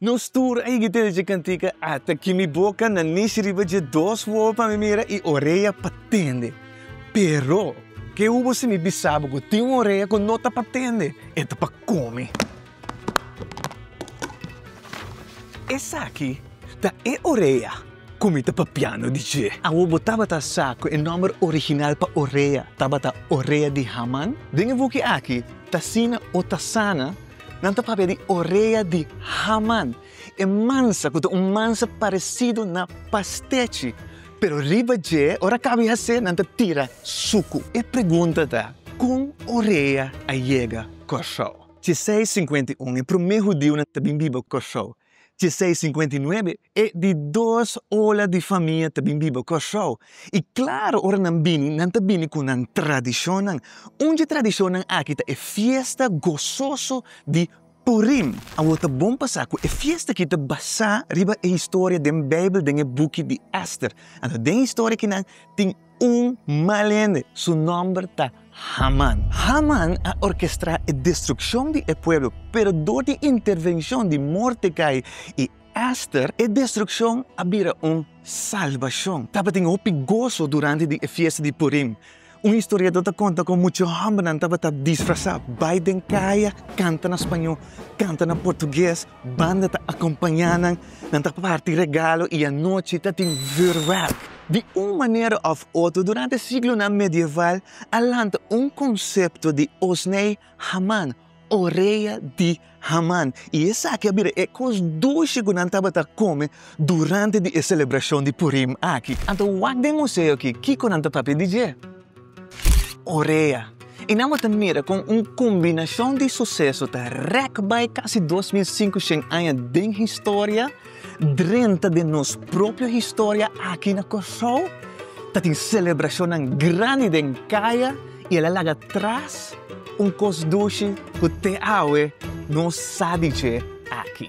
Nos tur a yega ta dici cantica, Ata ki mi boca na nici riba dje dos wowo pa mi mira y orea pa tende. Pero, ke hu bo sibi bisabo cu tin un orea cu no ta pa tende? E ta pa come. Esaki ta e orea cu mi ta papiando di dje. Awor bo tabata sa cu e nomber original pa orea tabata orea di Haman? Den e buki aki, T'asina o Ta sana, Nan ta papia di orea di Haman, e mansa ku ta un mansa paresidu na pastechi, pero riba dje, ora kaba di hase, nan ta tira suku. E pregunta ta, Kon orea a yega Kòrsou? Dje seis sinkuenta i un, e promé hudiunan ta bin biba Kòrsou. Dje seis sinkuenta i nuebe, e di dos ola di famia ta bin biba Kòrsou. I klaru, ora nan bini, nan ta bini ku nan tradishonnan. Un dje tradishonnan aki ta e fiesta gososo di Purim. Awor ta bon pa sa ku e fiesta aki ta basá riba e historia den Beibel, den e buki di Ester. Anto den e historia akinan tin. Un mal hende, su nòmber ta Haman. Haman a orkestrá e destrukshon di e pueblo, pero dor di intervenshon di Mordekai i Èster, e destrukshon a bira un salbashon. Tabatin hopi goso durante di e fiesta di Purim. Un historiador ta konta kon muchu hòmbernan tabata disfrasá, bai den kaya, kanta na spañó, kanta na portugues, Banda ta akompañá nan, nan ta parti regalo i anochi ta tin vürwerk. Di un manera òf otro, durante siglonan medieval a lanta un konsepto di Osney Haman, orea di Haman, i esaki a bira e kos dushi ku nan tabata kome durante di e selebrashon di Purim aki. Anto wak den museo aki kiko nan ta papia di dje. Orea, i nan bo ta mira kon un kombinashon di suseso ta rèk bai kasi dos mil sinkoshen aña den historia drenta den nos propio historia aki na Kòrsou. Tatin selebrashonnan grandi den kaya i el a laga tras un kos dushi ku te awe no sa di dje aki.